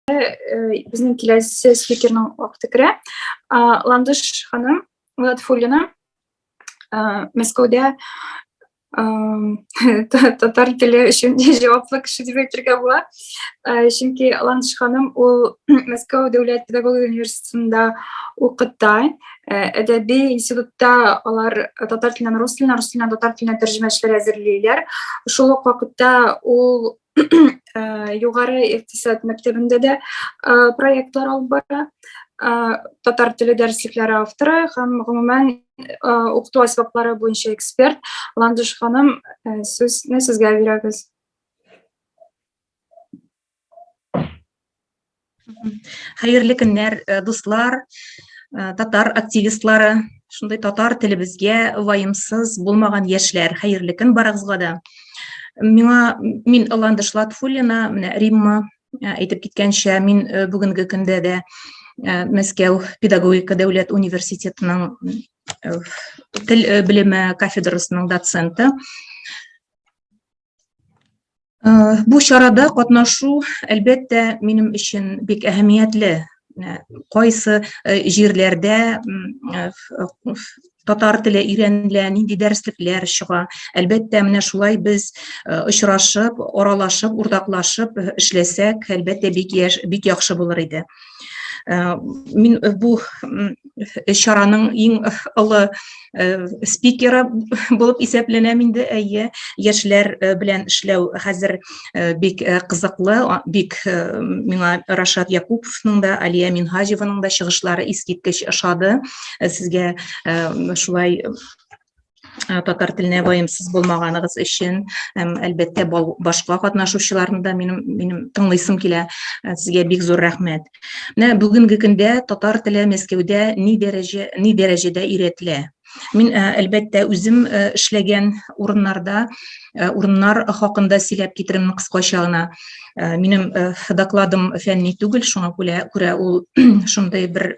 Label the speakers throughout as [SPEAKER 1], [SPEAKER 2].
[SPEAKER 1] Безнең киләсе спикерның вакыты керә. Ландыш ханым Латфуллина Мәскәүдә татар теле өчен җаваплы кеше дип әйтергә була. Э, чөнки ланш ханым ул мәскәү дәүләт педагогия университетында укыта э, әдәби институтта алар татар теленнән рус теленә рус теленнән татар теленә тәрҗемәчеләр әзерлиләр шул ук вакытта ул э, югары икътисад мәктәбендә дә проектлар алып бара татар теле дәреслекләре авторы һәм гомумән укыту әсбаплары буенча эксперт ландыш ханым сүзне сезгә бирәбез
[SPEAKER 2] Хәерле көннәр, э, дуслар, э, татар активистлары, шундый татар телебезгә вайымсыз булмаган яшьләр. Хәерле көн барыгызга да. Миңа мин Ландыш Латфуллина, менә Римма э, әйтеп киткәнчә, мин бүгенге көндә дә Мәскәү педагогика дәүләт университетының тел белеме кафедрасының доценты. Бу чарада катнашу, әлбәттә, минем өчен бик әһәмиятле. Кайсы җирләрдә татар теле өйрәнелә, нинди дәреслекләр чыга. Әлбәттә, менә шулай без очрашып, аралашып, уртаклашып эшләсәк, әлбәттә, бик яхшы булыр иде. Э, мин э, бу чараның иң э, олы спикеры булып исәпләнәм инде әйе яшьләр белән эшләү хәзер бик кызыклы бик миңа рашат якуповның да алия минһаҗеваның да чыгышлары искиткеч ошады сезгә шулай Э, татар теленә ваемсыз булмаганыгыз өчен һәм әлбәттә башка катнашучыларны да минем минем тыңлыйсым килә э, сезгә бик зур рәхмәт менә бүгенге көндә татар теле мәскәүдә ни дәрәҗә ни дәрәҗәдә өйрәтелә мин э, әлбәттә үзем эшләгән урыннарда урыннар хакында сөйләп китерим кыскача гына минем докладым фәнни түгел шуңа күрә күрә ул шундый бер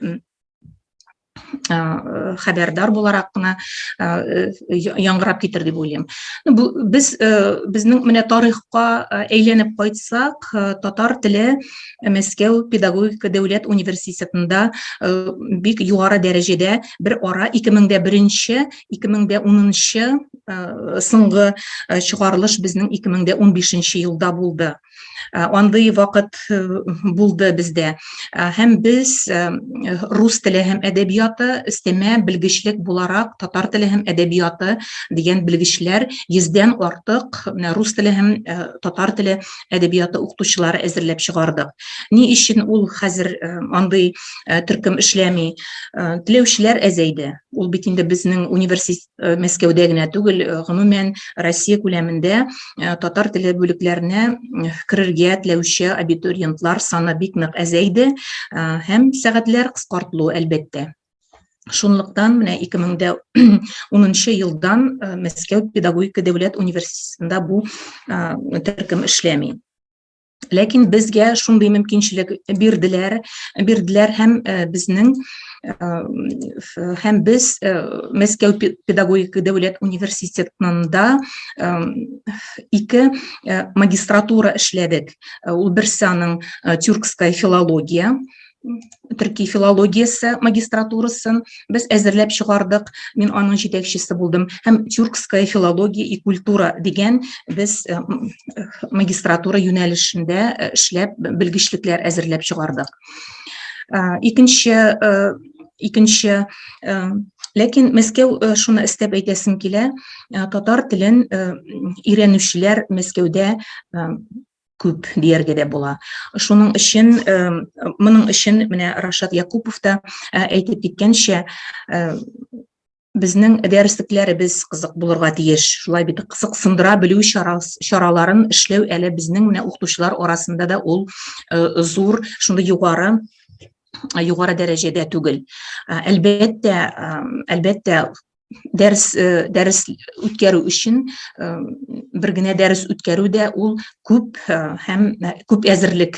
[SPEAKER 2] хәбәрдар буларак кына яңгырап китер дип уйлыйм. Бу без безнең менә тарихка әйләнеп кайтсак, татар теле Мәскәү педагогика дәүләт университетында бик югары дәрәҗәдә бер ара 2001-нче, 2010-нчы соңгы чыгарылыш безнең 2015-нче елда булды. андый вакыт булды бездә һәм без рус теле һәм әдәбияты өстәмә белгечлек буларак татар теле һәм әдәбияты дигән белгечләр йөздән артык рус теле һәм татар теле әдәбияты укытучылары әзерләп чыгардык ни өчен ул хәзер андый төркем эшләми теләүчеләр әзәйде ул бит инде безнең университет Э, мәскәүдә генә түгел э, гомумән россия күләмендә э, татар теле бүлекләренә керергә теләүче абитуриентлар саны бик нык әзәйде һәм сәгатьләр кыскартылу әлбәттә шунлыктан менә 2010 елдан мәскәү педагогика дәүләт университетында бу төркем эшләми ләкин безгә шундый мөмкинчелек бирделәр бирделәр һәм э, безнең э, һәм без э, мәскәү педагогик дәүләт университетында ике магистратура эшләдек ул берсе аның тюркская филология төрки филологиясе магистратурасын без әзерләп чыгардык мин аның җитәкчесе булдым һәм тюркская филология и культура дигән без э, магистратура юнәлешендә э, эшләп белгечлекләр әзерләп чыгардык э, икенче икенче ләкин мәскәү шуны эстәп әйтәсем килә татар телен өйрәнүчеләр мәскәүдә күп дияргә дә була. Шуның өчен моның өчен менә Рашат Якупов та әйтеп киткәнчә безнең дәреслекләребез кызык булырга тиеш. Шулай бит кызыксындыра белү чараларын эшләү әле безнең менә укытучылар арасында да ул зур, шундый югары югары дәрәҗәдә түгел. Әлбәттә, әлбәттә дәрес э, дәрес үткәрү өчен э, бер генә дәрес үткәрү дә ул күп э, һәм күп әзерлек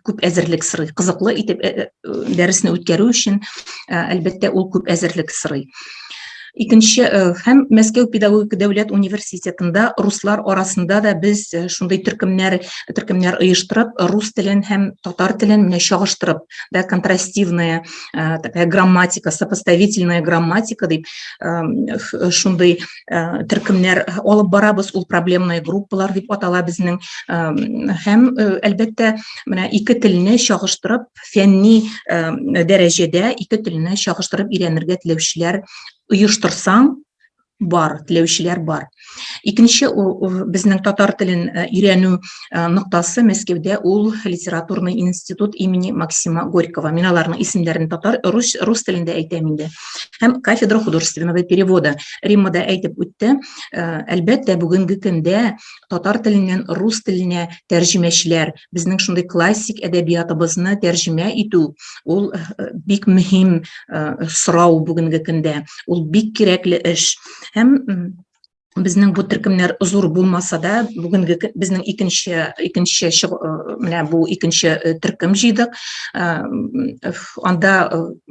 [SPEAKER 2] күп әзерлек сорый кызыклы итеп дәресне үткәрү өчен әлбәттә ул күп әзерлек сорый икенче һәм мәскәү педагогика дәүләт университетында руслар арасында да без шундый төркемнәр төркемнәр оештырып рус телен һәм татар телен менә чагыштырып да, контрастивная э, такая грамматика, сопоставительная грамматика, да, э, шундай э, теркемнәр алып барабыз, ул проблемная группалар дип атала безнең. Э, һәм э, әлбәттә, менә ике телне чагыштырып, фәнни э, дәрәҗәдә ике телне чагыштырып өйрәнергә теләүчеләр оештырсаң, бар теләүчеләр бар икенче безнең татар телен э, өйрәнү э, ноктасы мәскәүдә ул литературный институт имени максима горького мин аларның исемнәрен татар рус, рус телендә әйтәм инде һәм кафедра художественного перевода римма да әйтеп үтте э, әлбәттә бүгенге көндә татар теленнән рус теленә тәрҗемәчеләр безнең шундый классик әдәбиятыбызны тәрҗемә итү ул э, бик мөһим э, сорау бүгенге көндә ул бик кирәкле эш һәм безнең бу төркемнәр зур булмаса да бүгенге безнең икенче икенче э, менә бу икенче төркем җыйдык анда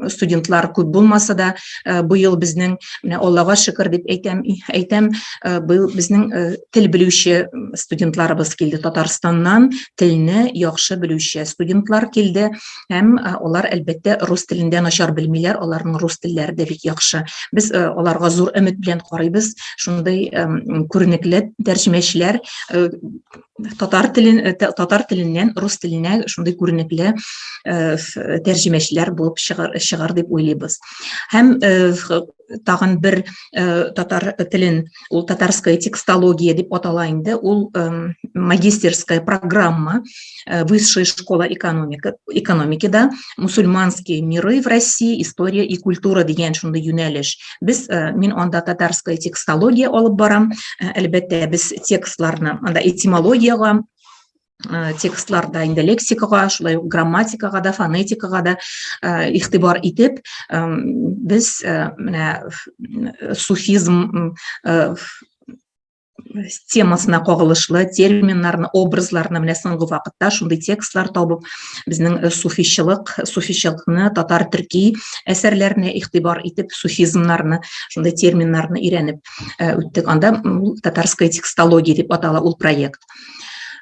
[SPEAKER 2] студентлар күп булмаса да э, быел безнең менә аллага шөкер дип әйтәм әйтәм э, быел безнең э, тел белүче студентларыбыз килде татарстаннан телне яхшы белүче студентлар килде һәм алар әлбәттә рус телендә начар белмиләр аларның рус телләре дә бик яхшы без аларга зур өмет белән карыйбыз шундый күренекле тәрҗемәчеләр татар телен э, татар теленнән рус теленә шундый күренекле э, тәрҗемәчеләр булып чыгар, чыгар дип уйлыйбыз һәм э, тагын бер татар телен ул татарская текстология дип атала инде ул магистерская программа высшая школа экономика экономикада мусульманские миры в россии история и культура дигән шундый юнәлеш без э, мин анда татарская текстология алып барам э, әлбәттә без текстларны анда этимологиягә Э, текстларда инде лексикага шулай ук грамматикага да фонетикага да э, игътибар итеп без э, менә суфизм темасына кагылышлы терминнарны образларны менә соңгы вакытта шундый текстлар табып безнең э, суфичылык суфичылыкны татар төрки әсәрләренә игътибар итеп суфизмнарны шундый терминнарны өйрәнеп э, үттек анда татарская текстология дип атала ул проект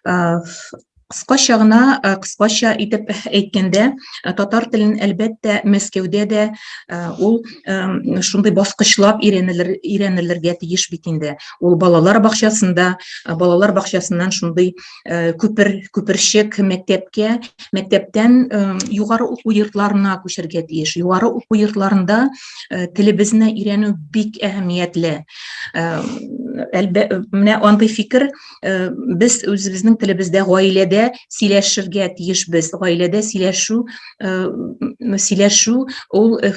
[SPEAKER 2] э, Кыскача гына, кыскача итеп әйткәндә, татар телен әлбәттә Мәскәүдә дә ул шундый баскычлап өйрәнелер, өйрәнелергә тиеш бит инде. Ул балалар бакчасында, балалар бакчасыннан шундый күпер, күперчек мәктәпкә, мәктәптән югары уку йортларына күчәргә тиеш. Югары уку йортларында телебезне өйрәнү бик әһәмиятле. Әлбә, менә андый фикер э, без үзебезнең телебездә гаиләдә сөйләшергә тиешбез гаиләдә сөйләшү э, сөйләшү ул э,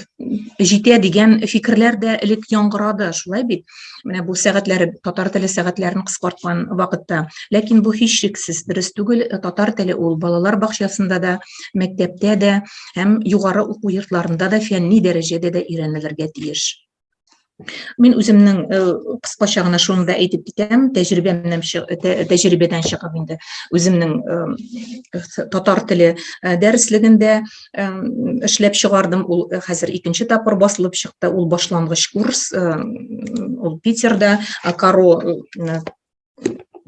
[SPEAKER 2] җитә дигән фикерләр дә элек яңгырады шулай бит менә бу сәгатьләре татар теле сәгатьләрен кыскарткан вакытта ләкин бу һичшиксез дөрес түгел татар теле ул балалар бакчасында да мәктәптә дә һәм югары уку йортларында да фәнни дәрәҗәдә дә өйрәнелергә тиеш Мин үземнең э, кыскача гына шуны да әйтеп китәм, тәҗрибәмнән тәҗрибәдән чыгып инде үземнең э, татар теле э, дәреслегендә эшләп чыгардым. Ул хәзер икенче тапкыр басылып чыкты. Ул башлангыч курс, ул Питерда Каро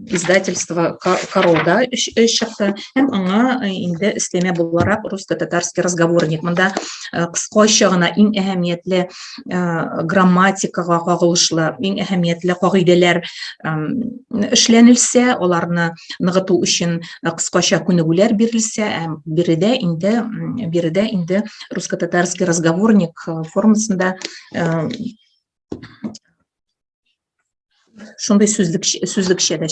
[SPEAKER 2] издательство Королда чыкты һәм аңа э, инде өстәмә буларак русско-татарский разговорник. Монда э, кыскача гына иң әһәмиятле э, грамматикага кагылышлы, иң әһәмиятле кагыйдәләр эшләнелсә, аларны ныгыту өчен кыскача күнегүләр бирелсә, һәм биредә инде биредә инде русско-татарский разговорник формасында шундый сүзлек сүзлекчә дә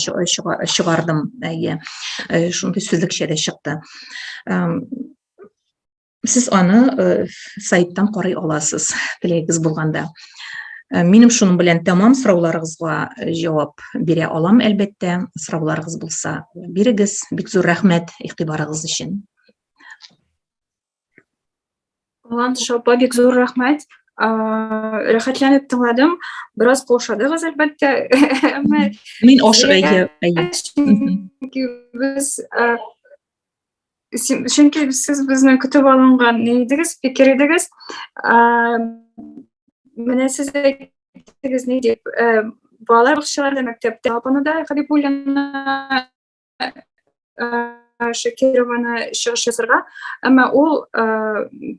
[SPEAKER 2] чыгардым әйе шундый сүзлекчә дә чыкты сез аны сайттан карый аласыз теләгегез булганда минем шуның белән тәмам сорауларыгызга җавап бирә алам әлбәттә сорауларыгыз булса бирегез бик зур рәхмәт игътибарыгыз өчен
[SPEAKER 1] Ландыш апа, бик зур рәхмәт. Рәхәтләнеп тыңладым. Бераз каушадыгыз, әлбәттә. Мин
[SPEAKER 2] ашык әйе. Чөнки без
[SPEAKER 1] чөнки сез безне көтеп алынган идегез, фикер идегез. Менә сез әйттегез ни дип, балалар бакчаларында, мәктәптә, апаны да Хәбибуллина Шакированы чыгыш ясарга, әмма ул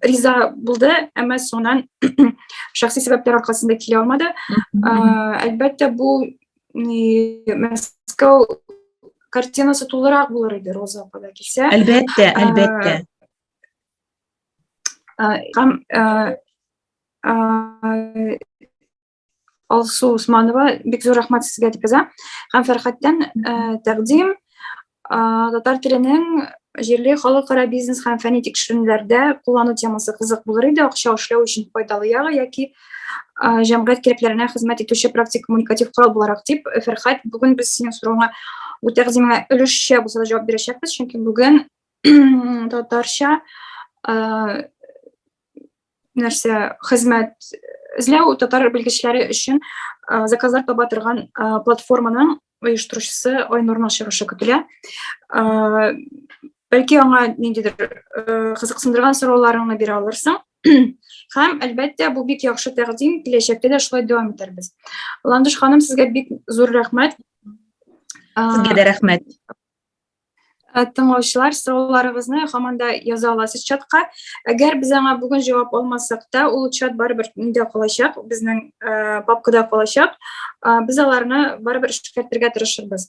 [SPEAKER 1] риза булды, әмма соңыннан шәхси сәбәпләр аркасында килә алмады. Әлбәттә, бу Мәскәү картинасы тулырак булыр иде Роза апада килсә.
[SPEAKER 2] Әлбәттә,
[SPEAKER 1] әлбәттә. Һәм Алсу Усманова, бик зур рәхмәт сезгә дип яза. Һәм Фәрхәттән тәкъдим татар теленең җирле халыкара бизнес һәм фәнни тикшеренүләрдә куллану темасы кызык булыр иде, акча эшләү өчен файдалы ягы яки җәмгыять кирәкләренә хезмәт итүче практик коммуникатив корал буларак дип, Фәрхәт, бүген без синең соравыңа бу тәкъдимеңә өлешчә булса да җавап бирәчәкбез, чөнки бүген татарча нәрсә хезмәт эзләү татар белгечләре өчен заказлар таба торган платформаның оештыручысы айнурның чыгышы көтелә бәлки аңа ниндидер кызыксындырган сорауларыңны бирә алырсың Хәм, әлбәттә, бу бик яхшы тәкъдим, киләчәктә дә шулай дәвам итәрбез. Ландыш ханым, сезгә бик зур рәхмәт.
[SPEAKER 2] Сезгә дә рәхмәт. Э, тыңлаучылар
[SPEAKER 1] сорауларыгызны һаман да яза аласыз чатка әгәр без аңа бүген җавап алмасак та ул чат барыбер миндә калачак безнең э, папкада калачак э, без аларны барыбер эшкәртергә тырышырбыз